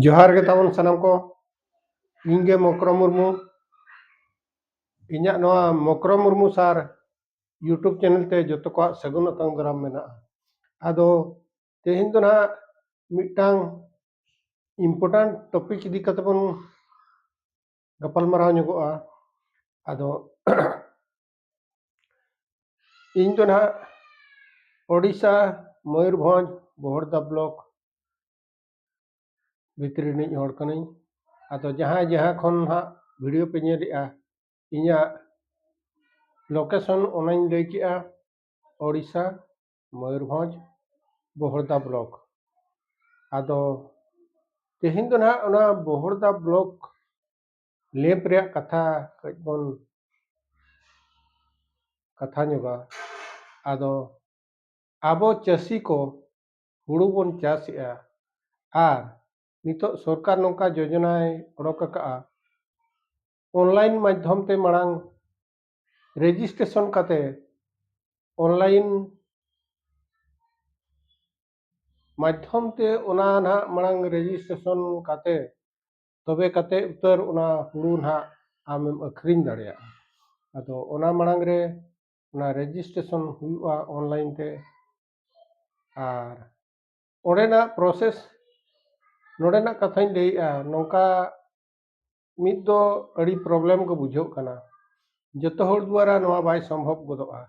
ᱡᱚᱦᱟᱨ ᱜᱮ ᱛᱟᱵᱚᱱ ᱥᱟᱱᱟᱢ ᱠᱚ ᱤᱧ ᱜᱮ ᱢᱚᱠᱨᱚ ᱢᱩᱨᱢᱩ ᱤᱧᱟᱹᱜ ᱱᱚᱣᱟ ᱢᱚᱠᱨᱚ ᱢᱩᱨᱢᱩ ᱥᱟᱨ ᱤᱭᱩᱴᱩᱵᱽ ᱪᱮᱱᱮᱞ ᱛᱮ ᱡᱚᱛᱚ ᱠᱚᱣᱟᱜ ᱥᱟᱹᱜᱩᱱ ᱟᱛᱟᱝ ᱫᱟᱨᱟᱢ ᱢᱮᱱᱟᱜᱼᱟ ᱟᱫᱚ ᱛᱮᱦᱮᱧ ᱫᱚ ᱱᱟᱦᱟᱜ ᱢᱤᱫᱴᱟᱝ ᱤᱢᱯᱚᱨᱴᱟᱱᱴ ᱴᱚᱯᱤᱠ ᱤᱫᱤ ᱠᱟᱛᱮ ᱵᱚᱱ ᱜᱟᱯᱟᱞᱢᱟᱨᱟᱣ ᱧᱚᱜᱚᱜᱼᱟ ᱟᱫᱚ ᱤᱧ ᱫᱚ ᱱᱟᱦᱟᱜ ᱳᱰᱤᱥᱟ ᱢᱚᱭᱩᱨᱵᱷᱚᱸᱡᱽ ᱵᱚᱦᱚᱲᱫᱟ ᱵᱞᱚᱠ ᱵᱷᱤᱛᱨᱤ ᱨᱤᱱᱤᱡ ᱦᱚᱲ ᱠᱟᱹᱱᱟᱹᱧ ᱟᱫᱚ ᱡᱟᱦᱟᱸᱭ ᱡᱟᱦᱟᱸ ᱠᱷᱚᱱ ᱱᱟᱦᱟᱜ ᱵᱷᱤᱰᱤᱭᱳ ᱯᱮ ᱧᱮᱞᱮᱜᱼᱟ ᱤᱧᱟᱹᱜ ᱞᱳᱠᱮᱥᱚᱱ ᱚᱱᱟᱧ ᱞᱟᱹᱭ ᱠᱮᱜᱼᱟ ᱳᱰᱤᱥᱟ ᱢᱚᱭᱩᱨᱵᱷᱚᱸᱡᱽ ᱵᱚᱦᱚᱲᱫᱟ ᱵᱞᱚᱠ ᱟᱫᱚ ᱛᱮᱦᱮᱧ ᱫᱚ ᱱᱟᱦᱟᱜ ᱚᱱᱟ ᱵᱚᱦᱚᱲᱫᱟ ᱵᱞᱚᱠ ᱞᱮᱯ ᱨᱮᱭᱟᱜ ᱠᱟᱛᱷᱟ ᱠᱟᱹᱡ ᱵᱚᱱ ᱠᱟᱛᱷᱟ ᱧᱚᱜᱟ ᱟᱫᱚ ᱟᱵᱚ ᱪᱟᱹᱥᱤ ᱠᱚ ᱦᱩᱲᱩ ᱵᱚᱱ ᱪᱟᱥᱮᱜᱼᱟ ᱟᱨ ᱱᱤᱛᱚᱜ ᱥᱚᱨᱠᱟᱨ ᱱᱚᱝᱠᱟ ᱡᱳᱡᱚᱱᱟᱭ ᱚᱰᱚᱠ ᱟᱠᱟᱜᱼᱟ ᱚᱱᱞᱟᱭᱤᱱ ᱢᱟᱫᱽᱫᱷᱚᱢ ᱛᱮ ᱢᱟᱲᱟᱝ ᱨᱮᱡᱤᱥᱴᱨᱮᱥᱚᱱ ᱠᱟᱛᱮ ᱚᱱᱞᱟᱭᱤᱱ ᱢᱟᱫᱽᱫᱷᱚᱢ ᱛᱮ ᱚᱱᱟ ᱱᱟᱦᱟᱜ ᱢᱟᱲᱟᱝ ᱨᱮᱡᱤᱥᱴᱨᱮᱥᱚᱱ ᱠᱟᱛᱮ ᱛᱚᱵᱮ ᱠᱟᱛᱮ ᱩᱛᱟᱹᱨ ᱚᱱᱟ ᱦᱩᱲᱩ ᱱᱟᱦᱟᱜ ᱟᱢᱮᱢ ᱟᱹᱠᱷᱨᱤᱧ ᱫᱟᱲᱮᱭᱟᱜᱼᱟ ᱟᱫᱚ ᱚᱱᱟ ᱢᱟᱲᱟᱝ ᱨᱮ ᱚᱱᱟ ᱨᱮᱡᱤᱥᱴᱨᱮᱥᱚᱱ ᱦᱩᱭᱩᱜᱼᱟ ᱚᱱᱞᱟᱭᱤᱱ ᱛᱮ ᱟᱨ ᱚᱸᱰᱮᱱᱟᱜ ᱯᱨᱚᱥᱮᱥ ᱱᱚᱰᱮᱱᱟᱜ ᱠᱟᱛᱷᱟᱧ ᱞᱟᱹᱭᱮᱜᱼᱟ ᱱᱚᱝᱠᱟ ᱢᱤᱫ ᱫᱚ ᱟᱹᱰᱤ ᱯᱨᱚᱵᱞᱮᱢ ᱜᱮ ᱵᱩᱡᱷᱟᱹᱜ ᱠᱟᱱᱟ ᱡᱚᱛᱚ ᱦᱚᱲ ᱫᱩᱣᱟᱨᱟ ᱱᱚᱣᱟ ᱵᱟᱭ ᱥᱚᱢᱵᱷᱚᱵ ᱜᱚᱫᱚᱜᱼᱟ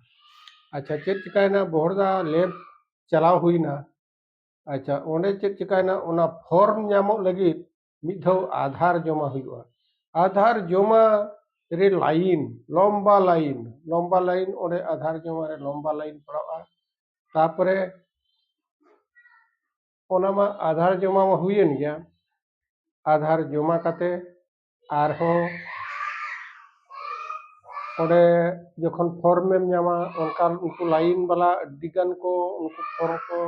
ᱟᱪᱪᱷᱟ ᱪᱮᱫ ᱪᱤᱠᱟᱹᱭᱮᱱᱟ ᱵᱚᱦᱚᱲᱫᱟ ᱞᱮᱵᱽ ᱪᱟᱞᱟᱣ ᱦᱩᱭᱱᱟ ᱟᱪᱪᱷᱟ ᱚᱸᱰᱮ ᱪᱮᱫ ᱪᱤᱠᱟᱹᱭᱮᱱᱟ ᱚᱱᱟ ᱯᱷᱚᱨᱢ ᱧᱟᱢᱚᱜ ᱞᱟᱹᱜᱤᱫ ᱢᱤᱫ ᱫᱷᱟᱣ ᱟᱫᱷᱟᱨ ᱡᱚᱢᱟ ᱦᱩᱭᱩᱜᱼᱟ ᱟᱫᱷᱟᱨ ᱡᱚᱢᱟ ᱨᱮ ᱞᱟᱭᱤᱱ ᱞᱚᱢᱵᱟ ᱞᱟᱭᱤᱱ ᱞᱚᱢᱵᱟ ᱞᱟᱭᱤᱱ ᱚᱸᱰᱮ ᱟᱫᱷᱟᱨ ᱡᱚᱢᱟ ᱨᱮ ᱞᱚᱢᱵᱟ ᱞᱟᱭᱤᱱ ᱯᱟᱲᱟᱜᱼᱟ ᱛᱟᱨᱯᱚᱨᱮ ᱚᱱᱟ ᱢᱟ ᱟᱫᱷᱟᱨ ᱡᱚᱢᱟ ᱢᱟ ᱦᱩᱭᱮᱱ ᱜᱮᱭᱟ ᱟᱫᱷᱟᱨ ᱡᱚᱢᱟ ᱠᱟᱛᱮ ᱟᱨᱦᱚᱸ ᱚᱸᱰᱮ ᱡᱚᱠᱷᱚᱱ ᱯᱷᱚᱨᱢᱮᱢ ᱧᱟᱢᱟ ᱚᱱᱠᱟᱱ ᱩᱱᱠᱩ ᱞᱟᱭᱤᱱ ᱵᱟᱞᱟ ᱟᱹᱰᱤᱜᱟᱱ ᱠᱚ ᱩᱱᱠᱩ ᱯᱷᱚᱨᱢ ᱠᱚ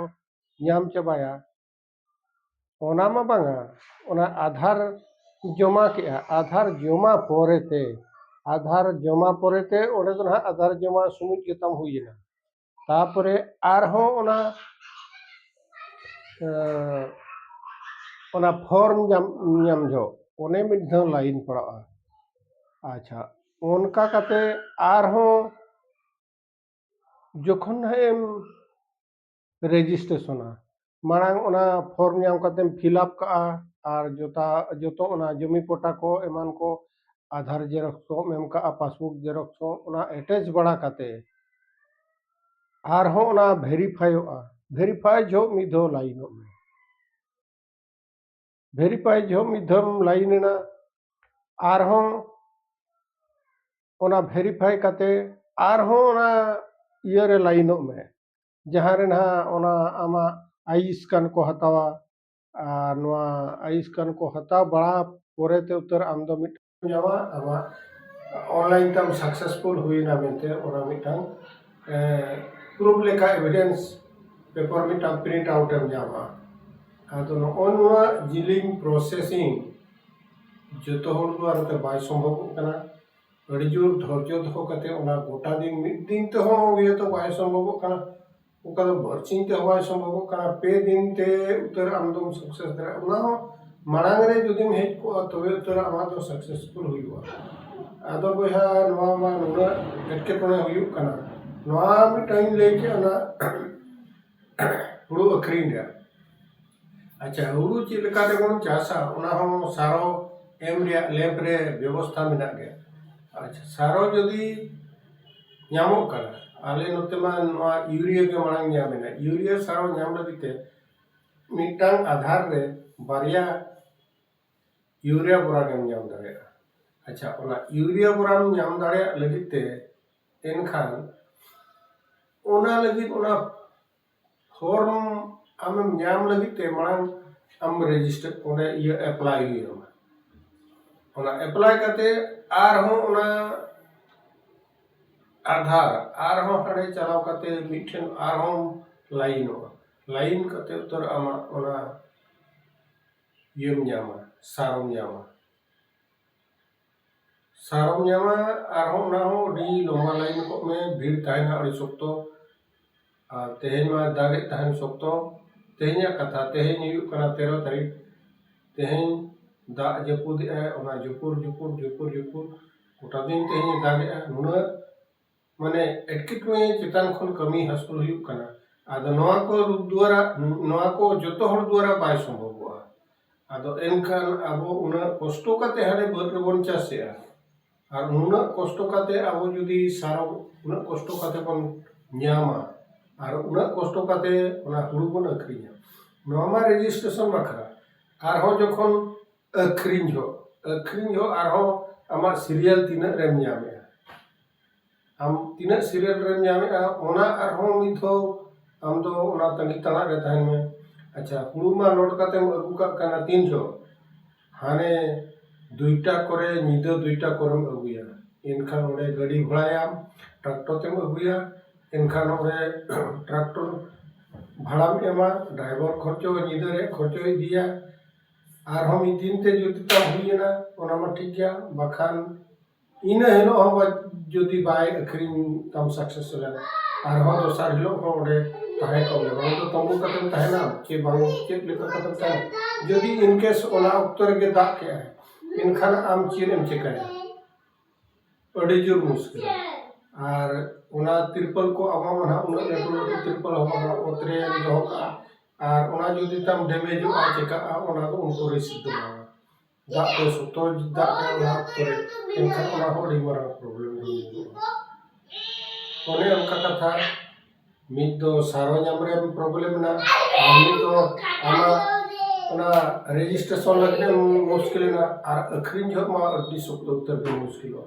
ᱧᱟᱢ ᱪᱟᱵᱟᱭᱟ ᱚᱱᱟ ᱢᱟ ᱵᱟᱝᱟ ᱚᱱᱟ ᱟᱫᱷᱟᱨ ᱡᱚᱢᱟ ᱠᱮᱜᱼᱟ ᱟᱫᱷᱟᱨ ᱡᱚᱢᱟ ᱯᱚᱨᱮᱛᱮ ᱟᱫᱷᱟᱨ ᱡᱚᱢᱟ ᱯᱚᱨᱮᱛᱮ ᱚᱸᱰᱮ ᱫᱚ ᱱᱟᱦᱟᱜ ᱟᱫᱷᱟᱨ ᱡᱚᱢᱟ ᱥᱚᱢᱚᱭ ᱜᱮᱛᱟᱢ ᱦᱩᱭᱮᱱᱟ ᱛᱟᱯᱚᱨᱮ ᱟᱨᱦᱚᱸ ᱚᱱᱟ ᱚᱱᱟ ᱯᱷᱚᱨᱢ ᱧᱟᱢ ᱧᱟᱢ ᱡᱚᱦᱚᱜ ᱚᱱᱮ ᱢᱤᱫ ᱫᱷᱟᱣ ᱞᱟᱭᱤᱱ ᱯᱟᱲᱟᱜᱼᱟ ᱟᱪᱪᱷᱟ ᱚᱱᱠᱟ ᱠᱟᱛᱮ ᱟᱨᱦᱚᱸ ᱡᱚᱠᱷᱚᱱ ᱦᱟᱸᱜ ᱮᱢ ᱨᱮᱡᱤᱥᱴᱨᱮᱥᱚᱱᱟ ᱢᱟᱲᱟᱝ ᱚᱱᱟ ᱯᱷᱚᱨᱢ ᱧᱟᱢ ᱠᱟᱛᱮᱢ ᱯᱷᱤᱞᱟᱯ ᱠᱟᱜᱼᱟ ᱟᱨ ᱡᱚᱛᱟ ᱡᱚᱛᱚ ᱚᱱᱟ ᱡᱚᱢᱤ ᱯᱚᱴᱟ ᱠᱚ ᱮᱢᱟᱱ ᱠᱚ ᱟᱫᱷᱟᱨ ᱡᱮᱨᱚᱠᱥ ᱠᱚᱢ ᱮᱢ ᱠᱟᱜᱼᱟ ᱯᱟᱥᱵᱩᱠ ᱡᱮᱨᱚᱠᱥ ᱠᱚ ᱚᱱᱟ ᱮᱴᱮᱪ ᱵᱟᱲᱟ ᱠᱟᱛᱮ ᱟᱨᱦᱚᱸ ᱚᱱᱟ ᱵᱷᱮᱨᱤᱯᱷᱟᱭᱚᱜᱼᱟ ᱵᱷᱮᱨᱤᱯᱷᱟᱭ ᱡᱚᱦᱚᱜ ᱢᱤᱫ ᱫᱷᱟᱣ ᱞᱟᱭᱤᱱᱚᱜ ᱢᱮ ᱵᱷᱮᱨᱤᱯᱷᱟᱭ ᱡᱚᱦᱚᱜ ᱢᱤᱫ ᱫᱷᱟᱣ ᱞᱟᱭᱤᱱ ᱮᱱᱟ ᱟᱨᱦᱚᱸ ᱚᱱᱟ ᱵᱷᱮᱨᱤᱯᱷᱟᱭ ᱠᱟᱛᱮ ᱟᱨᱦᱚᱸ ᱚᱱᱟ ᱤᱭᱟᱹᱨᱮ ᱞᱟᱭᱤᱱᱚᱜ ᱢᱮ ᱡᱟᱦᱟᱸ ᱨᱮ ᱱᱟᱦᱟᱜ ᱚᱱᱟ ᱟᱢᱟᱜ ᱟᱭ ᱥᱠᱮᱱ ᱠᱚ ᱦᱟᱛᱟᱣᱟ ᱟᱨ ᱱᱚᱣᱟ ᱟᱭ ᱥᱠᱮᱱ ᱠᱚ ᱦᱟᱛᱟᱣ ᱵᱟᱲᱟ ᱯᱚᱨᱮᱛᱮ ᱩᱛᱟᱹᱨ ᱟᱢ ᱫᱚ ᱢᱤᱫ ᱧᱟᱢᱟ ᱟᱢᱟᱜ ᱚᱱᱞᱟᱭᱤᱱ ᱛᱟᱢ ᱥᱟᱠᱥᱮᱥᱯᱷᱩᱞ ᱦᱩᱭᱱᱟ ᱢᱮᱱᱛᱮ ᱚᱱᱟ ᱢᱤᱫᱴᱟᱝ ᱯᱨᱩᱯᱷ ᱞᱮᱠᱟ ᱮᱵᱷᱤᱰᱮᱱᱥ ᱯᱮᱯᱟᱨ ᱢᱤᱫᱴᱟᱝ ᱯᱨᱤᱱᱴ ᱟᱣᱩᱴ ᱮᱢ ᱧᱟᱢᱟ ᱟᱫᱚ ᱱᱚᱜᱼᱚ ᱱᱚᱣᱟ ᱡᱤᱞᱤᱧ ᱯᱨᱚᱥᱮᱥᱤᱝ ᱡᱚᱛᱚ ᱦᱚᱲ ᱫᱚ ᱟᱨ ᱵᱟᱭ ᱥᱚᱢᱵᱷᱚᱵᱚᱜ ᱠᱟᱱᱟ ᱟᱹᱰᱤ ᱡᱳᱨ ᱫᱷᱳᱨᱡᱚ ᱫᱚᱦᱚ ᱠᱟᱛᱮᱫ ᱚᱱᱟ ᱜᱚᱴᱟ ᱫᱤᱱ ᱢᱤᱫ ᱫᱤᱱ ᱛᱮᱦᱚᱸ ᱤᱭᱟᱹ ᱫᱚ ᱵᱟᱭ ᱥᱚᱢᱵᱷᱚᱵᱚᱜ ᱠᱟᱱᱟ ᱚᱱᱠᱟ ᱫᱚ ᱵᱟᱨ ᱥᱤᱧ ᱛᱮᱦᱚᱸ ᱵᱟᱭ ᱥᱚᱢᱵᱷᱚᱵᱚᱜ ᱠᱟᱱᱟ ᱯᱮ ᱫᱤᱱ ᱛᱮ ᱩᱛᱟᱹᱨ ᱟᱢ ᱫᱚᱢ ᱥᱟᱠᱥᱮᱥ ᱫᱟᱲᱮᱭᱟᱜᱼᱟ ᱚᱱᱟ ᱦᱚᱸ ᱢᱟᱲᱟᱝ ᱨᱮ ᱡᱩᱫᱤᱢ ᱦᱮᱡ ᱠᱚᱜᱼᱟ ᱛᱚᱵᱮ ᱩᱛᱟᱹᱨ ᱟᱢᱟᱜ ᱫᱚ ᱥᱟᱠᱥᱮᱥᱯᱷᱩᱞ ᱦᱩᱭᱩᱜᱼᱟ ᱟᱫᱚ ᱵᱚᱭᱦᱟ ᱱᱚᱣᱟ ᱢᱟ ᱱᱩᱱᱟᱹᱜ ᱮᱴᱠᱮᱴᱚᱬᱮ ᱦᱩᱭᱩᱜ ᱠᱟᱱᱟ ᱱᱚᱣᱟ ᱢᱤᱫᱴᱟᱝ ᱤᱧ ᱞᱟᱹᱭ ᱠᱮᱫᱼᱟ ᱚᱱᱟ ᱦᱳᱲᱳ ᱟᱹᱠᱷᱨᱤᱧ ᱨᱮᱭᱟᱜ ᱟᱪᱪᱷᱟ ᱦᱳᱲᱳ ᱪᱮᱫ ᱞᱮᱠᱟ ᱛᱮᱵᱚᱱ ᱪᱟᱥᱟ ᱚᱱᱟ ᱦᱚᱸ ᱥᱟᱨᱚ ᱮᱢ ᱨᱮᱭᱟᱜ ᱞᱮᱵᱽ ᱨᱮ ᱵᱮᱵᱚᱥᱛᱷᱟ ᱢᱮᱱᱟᱜ ᱜᱮᱭᱟ ᱟᱪᱪᱷᱟ ᱥᱟᱨᱚ ᱡᱩᱫᱤ ᱧᱟᱢᱚᱜ ᱠᱟᱱᱟ ᱟᱞᱮ ᱱᱚᱛᱮ ᱢᱟ ᱱᱚᱣᱟ ᱤᱭᱩᱨᱤᱭᱟ ᱜᱮ ᱢᱟᱲᱟᱝ ᱧᱟᱢ ᱮᱱᱟ ᱤᱭᱩᱨᱤᱭᱟ ᱥᱟᱨᱚ ᱧᱟᱢ ᱞᱟᱹᱜᱤᱫ ᱛᱮ ᱢᱤᱫᱴᱟᱝ ᱟᱫᱷᱟᱨ ᱨᱮ ᱵᱟᱨᱭᱟ ᱤᱭᱩᱨᱤᱭᱟ ᱵᱚᱨᱟ ᱜᱮᱢ ᱧᱟᱢ ᱫᱟᱲᱮᱭᱟᱜᱼᱟ ᱟᱪᱪᱷᱟ ᱚᱱᱟ ᱤᱭᱩᱨᱤᱭᱟ ᱵᱚᱨᱟᱢ ᱧᱟᱢ ᱫᱟᱲᱮᱭᱟᱜ ᱞᱟᱹᱜᱤᱫ ᱛᱮ ᱮᱱᱠᱷᱟᱱ ᱚᱱᱟ ᱞᱟᱹᱜᱤᱫ ᱚᱱᱟ ᱯᱷᱚᱨᱢ ᱟᱢᱮᱢ ᱧᱟᱢ ᱞᱟᱹᱜᱤᱫ ᱛᱮ ᱢᱟᱲᱟᱝ ᱟᱢ ᱨᱮᱡᱤᱥᱴᱟᱨ ᱚᱸᱰᱮ ᱤᱭᱟᱹ ᱮᱯᱞᱟᱭ ᱦᱩᱭ ᱟᱢᱟ ᱚᱱᱟ ᱮᱯᱞᱟᱭ ᱠᱟᱛᱮ ᱟᱨᱦᱚᱸ ᱚᱱᱟ ᱟᱫᱷᱟᱨ ᱟᱨᱦᱚᱸ ᱦᱟᱸᱰᱮ ᱪᱟᱞᱟᱣ ᱠᱟᱛᱮ ᱢᱤᱫᱴᱷᱮᱱ ᱟᱨᱦᱚᱸ ᱞᱟᱭᱤᱱᱚᱜᱼᱟ ᱞᱟᱭᱤᱱ ᱠᱟᱛᱮ ᱩᱛᱟᱹᱨ ᱟᱢᱟᱜ ᱚᱱᱟ ᱤᱭᱟᱹᱢ ᱧᱟᱢᱟ ᱥᱟᱨᱮᱢ ᱧᱟᱢᱟ ᱥᱟᱨ ᱦᱚᱸᱢ ᱧᱟᱢᱟ ᱟᱨᱦᱚᱸ ᱚᱱᱟ ᱦᱚᱸ ᱟᱹᱰᱤ ᱞᱚᱢᱵᱟ ᱞᱟᱭᱤᱱ ᱠᱚᱜ ᱢᱮ ᱵᱷᱤᱲ ᱛᱟᱦᱮᱱᱟ ᱟᱹᱰᱤ ᱥᱚᱠᱛᱚ ᱟᱨ ᱛᱮᱦᱮᱧ ᱢᱟᱭ ᱫᱟᱜᱮᱫ ᱛᱟᱦᱮᱱ ᱥᱚᱠᱛᱚ ᱛᱮᱦᱮᱧᱟᱜ ᱠᱟᱛᱷᱟ ᱛᱮᱦᱮᱧ ᱦᱩᱭᱩᱜ ᱠᱟᱱᱟ ᱛᱮᱨᱚ ᱛᱟᱹᱨᱤᱠᱷ ᱛᱮᱦᱮᱧ ᱫᱟᱜ ᱡᱟᱹᱯᱩᱫᱮᱜᱼᱟᱭ ᱚᱱᱟ ᱡᱷᱩᱯᱩᱨ ᱡᱷᱩᱯᱩᱨ ᱡᱷᱩᱯᱩᱨ ᱡᱷᱩᱯᱩᱨ ᱜᱚᱴᱟ ᱫᱤᱱ ᱛᱮᱦᱮᱧᱮ ᱫᱟᱜᱮᱜᱼᱟ ᱱᱩᱱᱟᱹᱜ ᱢᱟᱱᱮ ᱮᱴᱠᱮᱴᱚᱬᱮ ᱪᱮᱛᱟᱱ ᱠᱷᱚᱱ ᱠᱟᱹᱢᱤ ᱦᱟᱹᱥᱩᱞ ᱦᱩᱭᱩᱜ ᱠᱟᱱᱟ ᱟᱫᱚ ᱱᱚᱣᱟ ᱠᱚ ᱨᱩᱯ ᱫᱩᱣᱟᱨᱟ ᱱᱚᱣᱟ ᱠᱚ ᱡᱚᱛᱚ ᱦᱚᱲ ᱫᱩᱣᱟᱨᱟ ᱵᱟᱭ ᱥᱚᱢᱵᱷᱚᱵᱚᱜᱼᱟ ᱟᱫᱚ ᱮᱱᱠᱷᱟᱱ ᱟᱵᱚ ᱩᱱᱟᱹᱜ ᱠᱚᱥᱴᱚ ᱠᱟᱛᱮ ᱦᱟᱱᱮ ᱵᱟᱹᱫᱽ ᱨᱮᱵᱚᱱ ᱪᱟᱥᱮᱜᱼᱟ ᱟᱨ ᱱᱩᱱᱟᱹᱜ ᱠᱚᱥᱴᱚ ᱠᱟᱛᱮ ᱟᱵᱚ ᱡᱩᱫᱤ ᱥᱟᱨ ᱩᱱᱟᱹᱜ ᱠᱚᱥᱴᱚ ᱠᱟᱛᱮ ᱵᱚᱱ ᱧᱟᱢᱟ ᱟᱨ ᱩᱱᱟᱹᱜ ᱠᱚᱥᱴᱚ ᱠᱟᱛᱮ ᱚᱱᱟ ᱦᱩᱲᱩ ᱵᱚᱱ ᱟᱹᱠᱷᱨᱤᱧᱟ ᱱᱚᱣᱟ ᱢᱟ ᱨᱮᱡᱤᱥᱴᱨᱮᱥᱚᱱ ᱵᱟᱠᱷᱨᱟ ᱟᱨᱦᱚᱸ ᱡᱚᱠᱷᱚᱱ ᱟᱹᱠᱷᱨᱤᱧ ᱦᱚᱸ ᱟᱹᱠᱷᱨᱤᱧ ᱦᱚᱸ ᱟᱨᱦᱚᱸ ᱟᱢᱟᱜ ᱥᱤᱨᱤᱭᱟᱞ ᱛᱤᱱᱟᱹᱜ ᱨᱮᱢ ᱧᱟᱢᱮᱜᱼᱟ ᱟᱢ ᱛᱤᱱᱟᱹᱜ ᱥᱤᱨᱤᱭᱟᱞ ᱨᱮᱢ ᱧᱟᱢᱮᱜᱼᱟ ᱚᱱᱟ ᱟᱨᱦᱚᱸ ᱢᱤᱫ ᱫᱷᱟᱣ ᱟᱢ ᱫᱚ ᱚᱱᱟ ᱛᱟᱺᱜᱤ ᱛᱟᱬᱟᱜ ᱨᱮ ᱛᱟᱦᱮᱱ ᱢᱮ ᱟᱪᱪᱷᱟ ᱦᱩᱲᱩ ᱢᱟ ᱞᱳᱰ ᱠᱟᱛᱮᱢ ᱟᱹᱜᱩ ᱠᱟᱜ ᱠᱟᱱᱟ ᱛᱤᱱ ᱡᱚᱦᱚᱜ ᱦᱟᱱᱮ ᱫᱩᱭᱴᱟ ᱠᱚᱨᱮ ᱧᱤᱫᱟᱹ ᱫᱩᱭᱴᱟ ᱠᱚᱨᱮᱢ ᱟᱹᱜᱩᱭᱟ ᱮᱱᱠᱷᱟᱱ ᱚᱸᱰᱮ ᱜᱟᱹᱰᱤ ᱵᱷᱟᱲᱟᱭᱟᱢ ᱴᱨᱟᱠᱴᱚᱨ ᱛᱮᱢ ᱟᱹᱜᱩᱭᱟ ᱮᱱᱠᱷᱟᱱ ᱚᱸᱰᱮ ᱴᱨᱟᱠᱴᱚᱨ ᱵᱷᱟᱲᱟᱢ ᱮᱢᱟ ᱰᱨᱟᱭᱵᱷᱟᱨ ᱠᱷᱚᱨᱪᱟ ᱧᱤᱫᱟᱹ ᱨᱮᱭᱟᱜ ᱠᱷᱚᱨᱪᱟᱭ ᱤᱫᱤᱭᱟ ᱟᱨᱦᱚᱸ ᱢᱤᱫ ᱫᱤᱱ ᱛᱮ ᱡᱩᱫᱤ ᱛᱟᱢ ᱦᱩᱭᱮᱱᱟ ᱚᱱᱟ ᱢᱟ ᱴᱷᱤᱠ ᱜᱮᱭᱟ ᱵᱟᱠᱷᱟᱱ ᱤᱱᱟᱹ ᱦᱤᱞᱳᱜ ᱦᱚᱸ ᱡᱩᱫᱤ ᱵᱟᱭ ᱟᱹᱠᱷᱨᱤᱧ ᱛᱟᱢ ᱥᱟᱠᱥᱮᱥ ᱞᱮᱱ ᱟᱨᱦᱚᱸ ᱫᱚᱥᱟᱨ ᱦᱤᱞᱳᱜ ᱦᱚᱸ ᱚᱸᱰᱮ ᱛᱟᱦᱮᱸ ᱠᱚᱜ ᱢᱮ ᱵᱟᱝ ᱫᱚ ᱛᱟᱹᱵᱩ ᱠᱟᱛᱮᱢ ᱛᱟᱦᱮᱱᱟ ᱪᱮ ᱵᱟᱝ ᱪᱮᱫ ᱞᱮᱠᱟ ᱠᱟᱛᱮᱢ ᱛᱟᱦᱮᱱᱟ ᱡᱩᱫᱤ ᱤᱱ ᱠᱮᱥ ᱚᱱᱟ ᱚᱠᱛᱚ ᱨᱮᱜᱮ ᱫᱟᱜ ᱠᱮᱜ ᱟᱭ ᱮᱱᱠᱷᱟᱱ ᱟᱢ ᱪᱮᱫ ᱮᱢ ᱪᱤᱠᱟᱹᱭᱟ ᱟᱹᱰᱤ ᱡᱳᱨ ᱢᱩᱥᱠᱤᱞ ᱟᱨ ᱚᱱᱟ ᱛᱤᱨᱯᱚᱞ ᱠᱚ ᱟᱵᱚ ᱢᱟ ᱱᱟᱦᱟᱜ ᱩᱱᱟᱹᱜ ᱞᱟᱹᱴᱩ ᱞᱟᱹᱴᱩ ᱛᱤᱨᱯᱚᱞ ᱦᱚᱸ ᱵᱟᱝᱟ ᱚᱛ ᱨᱮᱢ ᱫᱚᱦᱚ ᱠᱟᱜᱼᱟ ᱟᱨ ᱚᱱᱟ ᱡᱩᱫᱤ ᱛᱟᱢ ᱰᱮᱢᱮᱡᱚᱜᱼᱟ ᱪᱤᱠᱟᱹᱜᱼᱟ ᱚᱱᱟ ᱫᱚ ᱩᱱᱠᱩ ᱨᱤᱠᱥ ᱫᱚ ᱵᱟᱝ ᱫᱟᱜ ᱛᱮ ᱥᱚᱠᱛᱚ ᱫᱟᱜ ᱠᱮᱫᱟᱭ ᱚᱱᱟ ᱚᱠᱛᱚ ᱨᱮ ᱮᱱᱠᱷᱟᱱ ᱚᱱᱟ ᱦᱚᱸ ᱟᱹᱰᱤ ᱢᱟᱨᱟᱝ ᱯᱨᱚᱵᱞᱮᱢ ᱨᱮ ᱧᱩᱨᱩᱜᱼᱟ ᱚᱱᱮ ᱚᱱᱠᱟ ᱠᱟᱛᱷᱟ ᱢᱤᱫ ᱫᱚ ᱥᱟᱨ ᱦᱚᱸ ᱧᱟᱢ ᱨᱮ ᱯᱨᱚᱵᱞᱮᱢ ᱢᱮᱱᱟᱜᱼᱟ ᱟᱨ ᱢᱤᱫ ᱫᱚ ᱟᱢᱟᱜ ᱚᱱᱟ ᱨᱮᱡᱤᱥᱴᱨᱮᱥᱚᱱ ᱞᱟᱹᱜᱤᱫ ᱮᱢ ᱢᱩᱥᱠᱤᱞ ᱮᱱᱟ ᱟᱨ ᱟᱹᱠᱷᱨᱤᱧ ᱡᱚᱦᱚᱜ ᱢᱟ ᱟᱹᱰᱤ ᱥᱚᱠᱛᱚ ᱩᱛᱟᱹᱨ ᱜᱮᱢ ᱢᱩᱥᱠᱤᱞᱚᱜᱼᱟ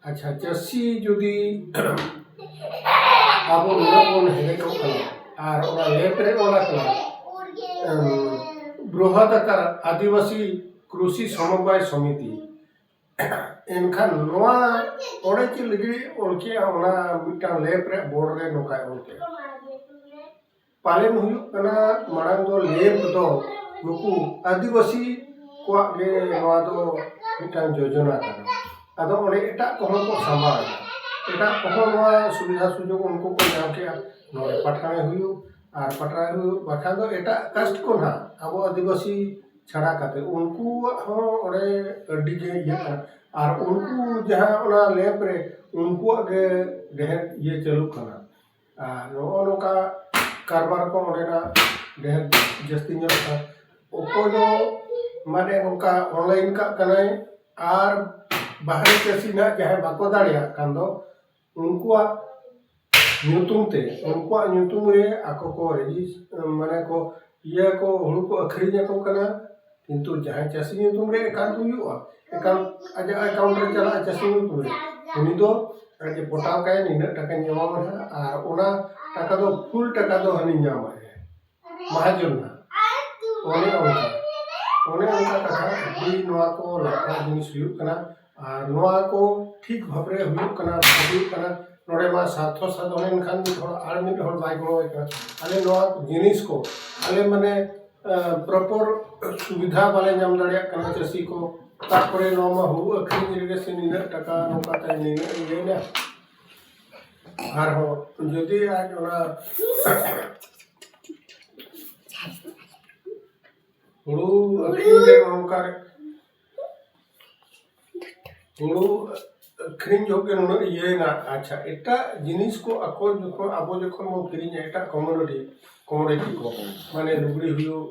ᱟᱪᱪᱷᱟ ᱪᱟᱹᱥᱤ ᱡᱩᱫᱤ ᱟᱵᱚ ᱱᱩᱱᱟᱹᱜ ᱵᱚᱱ ᱦᱮᱰᱮᱠᱚᱜ ᱠᱟᱱᱟ ᱟᱨ ᱚᱱᱟ ᱮᱯ ᱨᱮ ᱚᱞ ᱟᱠᱟᱱᱟ ᱵᱨᱚᱦᱚᱫ ᱟᱠᱟᱨ ᱟᱹᱫᱤᱵᱟᱹᱥᱤ ᱠᱨᱩᱥᱤ ᱥᱚᱢᱚᱵᱟᱭ ᱥᱚᱢᱤᱛᱤ ᱮᱱᱠᱷᱟᱱ ᱱᱚᱣᱟ ᱚᱸᱰᱮ ᱪᱮᱫ ᱞᱟᱹᱜᱤᱫ ᱚᱞ ᱠᱮᱜᱼᱟ ᱚᱱᱟ ᱢᱤᱫᱴᱟᱝ ᱞᱮᱯ ᱨᱮᱭᱟᱜ ᱵᱳᱨᱰ ᱨᱮ ᱱᱚᱝᱠᱟᱭ ᱚᱞ ᱠᱮᱜᱼᱟ ᱯᱟᱞᱮᱱ ᱦᱩᱭᱩᱜ ᱠᱟᱱᱟ ᱢᱟᱲᱟᱝ ᱫᱚ ᱞᱮᱢᱯ ᱫᱚ ᱱᱩᱠᱩ ᱟᱹᱫᱤᱵᱟᱹᱥᱤ ᱠᱚᱣᱟᱜ ᱜᱮ ᱱᱚᱣᱟ ᱫᱚ ᱢᱤᱫᱴᱟᱝ ᱡᱳᱡᱳᱱᱟ ᱠᱟᱱᱟ ᱟᱫᱚ ᱚᱸᱰᱮ ᱮᱴᱟᱜ ᱠᱚᱦᱚᱸ ᱠᱚ ᱥᱟᱢᱵᱟᱣ ᱮᱫᱟ ᱮᱴᱟᱜ ᱠᱚᱦᱚᱸ ᱱᱚᱣᱟ ᱥᱩᱵᱤᱫᱷᱟ ᱥᱩᱡᱳᱜᱽ ᱩᱱᱠᱩ ᱠᱚ ᱧᱟᱢ ᱠᱮᱫᱼᱟ ᱱᱚᱰᱮ ᱯᱟᱴᱷᱟᱬᱮ ᱦᱩᱭᱩᱜ ᱟᱨ ᱯᱟᱴᱷᱟᱬᱮ ᱦᱩᱭᱩᱜ ᱵᱟᱠᱷᱟᱱ ᱫᱚ ᱮᱴᱟᱜ ᱠᱟᱥᱴ ᱠᱚ ᱦᱟᱸᱜ ᱟᱵᱚ ᱟᱹᱫᱤᱵᱟᱹᱥᱤ ᱪᱷᱟᱲᱟ ᱠᱟᱛᱮ ᱩᱱᱠᱩᱣᱟᱜ ᱦᱚᱸ ᱚᱸᱰᱮ ᱟᱹᱰᱤ ᱜᱮ ᱤᱭᱟᱹᱜ ᱠᱟᱱᱟ ᱟᱨ ᱩᱱᱠᱩ ᱡᱟᱦᱟᱸ ᱚᱱᱟ ᱞᱮᱢᱯ ᱨᱮ ᱩᱱᱠᱩᱣᱟᱜ ᱜᱮ ᱰᱷᱮᱨ ᱤᱭᱟᱹ ᱪᱟᱹᱞᱩᱜ ᱠᱟᱱᱟ ᱟᱨ ᱱᱚᱜᱼᱚ ᱱᱚᱝᱠᱟ ᱠᱟᱨᱵᱟᱨ ᱠᱚ ᱚᱸᱰᱮᱱᱟᱜ ᱰᱷᱮᱨ ᱡᱟᱹᱥᱛᱤ ᱧᱚᱜ ᱟᱠᱟᱱᱟ ᱚᱠᱚᱭ ᱫᱚ ᱢᱟᱱᱮ ᱚᱱᱠᱟ ᱚᱱᱞᱟᱭᱤᱱ ᱠᱟᱜ ᱠᱟᱱᱟᱭ ᱟᱨ ᱵᱟᱦᱨᱮ ᱪᱟᱹᱥᱤ ᱦᱟᱸᱜ ᱡᱟᱦᱟᱸᱭ ᱵᱟᱠᱚ ᱫᱟᱲᱮᱭᱟᱜ ᱠᱟᱱ ᱫᱚ ᱩᱱᱠᱩᱣᱟᱜ ᱧᱩᱛᱩᱢ ᱛᱮ ᱩᱱᱠᱩᱣᱟᱜ ᱧᱩᱛᱩᱢ ᱨᱮ ᱟᱠᱚ ᱠᱚ ᱨᱮᱡᱤᱥ ᱢᱟᱱᱮ ᱠᱚ ᱤᱭᱟᱹ ᱠᱚ ᱦᱩᱲᱩ ᱠᱚ ᱟᱹᱠᱷᱨᱤᱧ ᱟᱠᱚ ᱠᱟᱱᱟ ᱠᱤᱱᱛᱩ ᱡᱟᱦᱟᱸᱭ ᱪᱟᱹᱥᱤ ᱧᱩᱛᱩᱢ ᱨᱮ ᱮᱠᱟᱣᱩᱱᱴ ᱦᱩᱭᱩᱜᱼᱟ ᱮᱠᱟᱣᱩᱱᱴ ᱟᱡᱟᱜ ᱮᱠᱟᱣᱩᱱᱴ ᱨᱮ ᱪᱟᱞᱟᱜᱼᱟ ᱪᱟᱹᱥᱤ ᱧᱩᱛᱩᱢ ᱨᱮ ᱩᱱᱤ ᱫᱚ ᱟᱡ ᱮ ᱯᱚᱴᱟᱣ ᱠᱟᱜ ᱟᱭ ᱱᱤᱱᱟᱹᱜ ᱴᱟᱠᱟᱧ ᱮᱢᱟᱢᱟ ᱦᱟᱸᱜ ᱟᱨ ᱚᱱᱟ ᱴᱟᱠᱟ ᱫᱚ ᱯᱷᱩᱞ ᱴᱟᱠᱟ ᱫᱚ ᱦᱟᱹᱱᱤ ᱧᱟᱢᱟᱭ ᱢᱟᱦᱟᱡᱚᱱ ᱦᱟᱸᱜ ᱚᱱᱮ ᱚᱱᱠᱟ ᱚᱱᱮ ᱚᱱᱠᱟ ᱠᱟᱛᱷᱟ ᱟᱹᱰᱤ ᱱᱚᱣᱟ ᱠᱚ ᱞᱟᱠᱲᱟ ᱡᱤᱱᱤᱥ ᱦᱩᱭᱩᱜ ᱠᱟᱱᱟ ᱟᱨ ᱱᱚᱣᱟ ᱠᱚ ᱴᱷᱤᱠ ᱵᱷᱟᱵᱽ ᱨᱮ ᱦᱩᱭᱩᱜ ᱠᱟᱱᱟ ᱵᱟᱝ ᱦᱩᱭᱩᱜ ᱠᱟᱱᱟ ᱱᱚᱰᱮ ᱢᱟ ᱥᱟᱨᱛᱷᱚ ᱥᱟᱫᱷᱚᱱ ᱮᱱ ᱠᱷᱟᱱ ᱢᱤᱫ ᱦᱚᱲ ᱟᱨ ᱢᱤᱫ ᱦᱚᱲ ᱵᱟᱭ ᱜᱚᱲᱚᱣᱟᱭ ᱠᱟᱱᱟ ᱟᱞᱮ ᱱᱚᱣᱟ ᱠᱚ ᱡᱤᱱᱤᱥ ᱠᱚ ᱟᱞᱮ ᱢᱟᱱᱮ ᱯᱨᱚᱯᱚᱨ ᱥᱩᱵᱤᱫᱷᱟ ᱵᱟᱞᱮ ᱧᱟᱢ ᱫᱟᱲᱮᱭᱟᱜ ᱠᱟᱱᱟ ᱪᱟᱹᱥᱤ ᱠᱚ ᱛᱟᱨᱯᱚᱨᱮ ᱱᱚᱣᱟ ᱢᱟ ᱦᱩᱲᱩ ᱟᱹᱠᱷᱨᱤᱧ ᱨᱮᱜᱮ ᱥᱮ ᱱᱤᱱᱟᱹᱜ ᱴᱟᱠᱟ ᱱᱚᱝᱠᱟ ᱛᱮ ᱱᱤᱱᱟᱹᱜ ᱤᱭᱟᱹᱭᱮᱱᱟ ᱟᱨᱦᱚᱸ ᱡᱩᱫᱤ ᱟᱡ ᱚᱱᱟ ᱦᱩᱲᱩ ᱟᱹᱠᱷᱨᱤᱧ ᱨᱮ ᱱᱚᱝᱠᱟ ᱦᱩᱲᱩ ᱟᱹᱠᱷᱨᱤᱧ ᱡᱚᱠᱷᱚᱱ ᱜᱮ ᱱᱩᱱᱟᱹᱜ ᱤᱭᱟᱹᱭᱮᱱᱟ ᱟᱪᱪᱷᱟ ᱮᱴᱟᱜ ᱡᱤᱱᱤᱥ ᱠᱚ ᱟᱠᱚ ᱡᱚᱠᱷᱚᱱ ᱟᱵᱚ ᱡᱚᱠᱷᱚᱱ ᱵᱚᱱ ᱠᱤᱨᱤᱧᱟ ᱮᱴᱟᱜ ᱠᱚᱢᱳᱰᱤᱴᱤ ᱠᱚᱢᱳᱰᱤᱴᱤ ᱠᱚ ᱢᱟᱱᱮ ᱞᱩᱜᱽᱲᱤ ᱦᱩᱭᱩᱜ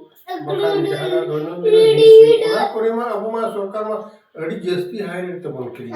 ᱵᱟᱠᱷᱟᱱ ᱡᱟᱦᱟᱱᱟᱜ ᱫᱚᱭᱱᱚᱱ ᱫᱤᱱ ᱡᱤᱱᱤᱥ ᱦᱩᱭᱩᱜ ᱚᱱᱟ ᱠᱚᱨᱮ ᱢᱟ ᱟᱵᱚ ᱢᱟ ᱥᱚᱨᱠᱟᱨ ᱢᱟ ᱟᱹᱰᱤ ᱡᱟᱹᱥᱛᱤ ᱦᱟᱭ ᱨᱮᱴ ᱛᱮᱵᱚᱱ ᱠᱤᱨᱤᱧᱟ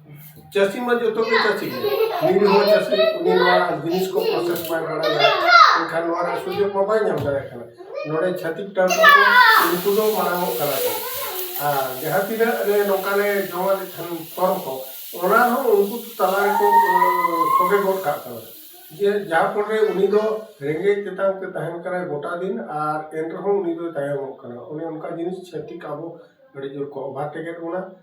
ᱪᱟᱹᱥᱤ ᱢᱟ ᱡᱚᱛᱚ ᱜᱮ ᱪᱟᱹᱥᱤ ᱜᱮ ᱱᱤᱡᱮ ᱦᱚᱸ ᱪᱟᱹᱥᱤ ᱩᱱᱤ ᱱᱚᱣᱟ ᱡᱤᱱᱤᱥ ᱠᱚ ᱯᱨᱚᱥᱮᱥ ᱵᱟᱭ ᱵᱟᱲᱟᱭᱟ ᱮᱱᱠᱷᱟᱱ ᱱᱚᱣᱟ ᱨᱮᱭᱟᱜ ᱥᱩᱡᱳᱜᱽ ᱢᱟ ᱵᱟᱭ ᱧᱟᱢ ᱫᱟᱲᱮᱭᱟᱜ ᱠᱟᱱᱟ ᱱᱚᱰᱮ ᱪᱷᱟᱹᱛᱤᱠ ᱴᱟᱹᱣᱴᱤ ᱠᱚ ᱩᱱᱠᱩ ᱫᱚ ᱢᱟᱲᱟᱝᱚᱜ ᱠᱟᱱᱟ ᱠᱚ ᱟᱨ ᱡᱟᱦᱟᱸ ᱛᱤᱱᱟᱹᱜ ᱞᱮ ᱱᱚᱝᱠᱟ ᱞᱮ ᱡᱚᱢᱟ ᱞᱮ ᱠᱷᱟᱱ ᱯᱷᱚᱨᱢ ᱠᱚ ᱚᱱᱟ ᱦᱚᱸ ᱩᱱᱠᱩ ᱛᱟᱞᱟ ᱨᱮᱠᱚ ᱥᱚᱜᱮ ᱜᱚᱫ ᱠᱟᱜ ᱠᱟᱱᱟ ᱡᱮ ᱡᱟᱦᱟᱸ ᱯᱚᱨᱮ ᱩᱱᱤ ᱫᱚ ᱨᱮᱸᱜᱮᱡ ᱛᱮᱛᱟᱝ ᱛᱮ ᱛᱟᱦᱮᱱ ᱠᱟᱱᱟᱭ ᱜᱚᱴᱟ ᱫᱤᱱ ᱟᱨ ᱮᱱ ᱨᱮᱦᱚᱸ ᱩᱱᱤ ᱫᱚᱭ ᱛᱟᱭᱚᱢᱚᱜ ᱠᱟᱱᱟ ᱚᱱᱮ ᱚᱱᱠᱟ ᱡᱤᱱᱤᱥ ᱪᱷᱟᱹᱛᱤᱠ ᱟᱵᱚ ᱟᱹᱰᱤ ᱡᱳᱨ ᱠᱚ ᱚᱵᱷᱟᱨ ᱴᱮᱠᱮᱫ ᱵᱚᱱᱟ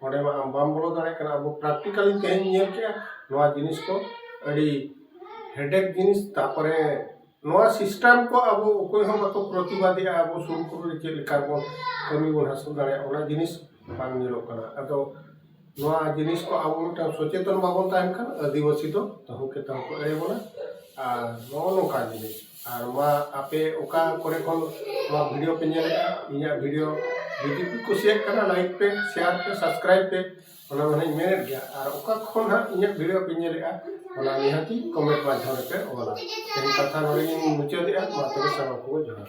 ᱚᱸᱰᱮ ᱢᱟ ᱟᱢ ᱵᱟᱢ ᱵᱚᱞᱚ ᱫᱟᱲᱮᱭᱟᱜ ᱠᱟᱱᱟ ᱟᱵᱚ ᱯᱨᱮᱠᱴᱤᱠᱟᱞᱤ ᱛᱮᱦᱮᱧ ᱧᱮᱞ ᱠᱮᱜᱼᱟ ᱱᱚᱣᱟ ᱡᱤᱱᱤᱥ ᱠᱚ ᱟᱹᱰᱤ ᱦᱮᱰᱮᱠ ᱡᱤᱱᱤᱥ ᱛᱟᱨᱯᱚᱨᱮ ᱱᱚᱣᱟ ᱥᱤᱥᱴᱮᱢ ᱠᱚ ᱟᱵᱚ ᱚᱠᱚᱭ ᱦᱚᱸ ᱵᱟᱠᱚ ᱯᱨᱚᱛᱤᱵᱟᱫᱮᱜᱼᱟ ᱟᱵᱚ ᱥᱩᱨ ᱠᱚᱨᱮᱜ ᱪᱮᱫ ᱞᱮᱠᱟ ᱵᱚᱱ ᱠᱟᱹᱢᱤ ᱵᱚᱱ ᱦᱟᱹᱥᱤᱞ ᱫᱟᱲᱮᱭᱟᱜᱼᱟ ᱚᱱᱟ ᱡᱤᱱᱤᱥ ᱵᱟᱝ ᱧᱮᱞᱚᱜ ᱠᱟᱱᱟ ᱟᱫᱚ ᱱᱚᱣᱟ ᱡᱤᱱᱤᱥ ᱠᱚ ᱟᱵᱚ ᱢᱤᱫᱴᱟᱱ ᱥᱚᱪᱮᱛᱚᱱ ᱵᱟᱵᱚᱱ ᱛᱟᱦᱮᱱ ᱠᱷᱟᱱ ᱟᱹᱫᱤᱵᱟᱹᱥᱤ ᱫᱚ ᱛᱟᱹᱦᱩ ᱠᱮ ᱛᱟᱹᱦᱩ ᱠᱚ ᱮᱲᱮ ᱵᱚᱱᱟ ᱟᱨ ᱱᱚᱜᱼᱚ ᱱᱚᱝᱠᱟᱱ ᱡᱤᱱᱤᱥ ᱟᱨ ᱢᱟ ᱟᱯᱮ ᱚᱠᱟ ᱠᱚᱨᱮ ᱠᱷᱚᱱ ᱱᱚᱣᱟ ᱵᱷᱤᱰᱤᱭᱳ ᱯᱮ ᱧᱮᱞᱮᱫᱼᱟ ᱤᱧᱟᱹᱜ ᱵᱷᱤᱰᱤᱭᱳ ᱡᱩᱫᱤ ᱯᱮ ᱠᱩᱥᱤᱭᱟᱜ ᱠᱟᱱᱟ ᱞᱟᱭᱤᱠ ᱯᱮ ᱥᱮᱭᱟᱨ ᱯᱮ ᱥᱟᱵᱥᱠᱨᱟᱭᱤᱵᱽ ᱯᱮ ᱚᱱᱟ ᱢᱟ ᱦᱟᱸᱜ ᱢᱮᱱᱮᱫ ᱜᱮᱭᱟ ᱟᱨ ᱚᱠᱟ ᱠᱷᱚᱱ ᱦᱟᱸᱜ ᱤᱧᱟᱹᱜ ᱵᱷᱤᱰᱤᱭᱳ ᱯᱮ ᱧᱮᱞᱮᱫᱼᱟ ᱚᱱᱟ ᱱᱤᱦᱟᱹᱛᱤ ᱠᱚᱢᱮᱱᱴ ᱢᱟᱫᱽᱫᱷᱚᱢ ᱨᱮᱯᱮ ᱚᱞᱟ ᱛᱮᱦᱮᱧ ᱠᱟᱛᱷᱟ ᱱᱚᱰᱮ ᱜᱤᱧ ᱢᱩᱪᱟᱹᱫᱮᱜᱼᱟ ᱢᱟ ᱛᱚᱵᱮ ᱥᱟᱱᱟᱢ ᱠᱚ ᱡᱚᱦᱟᱨ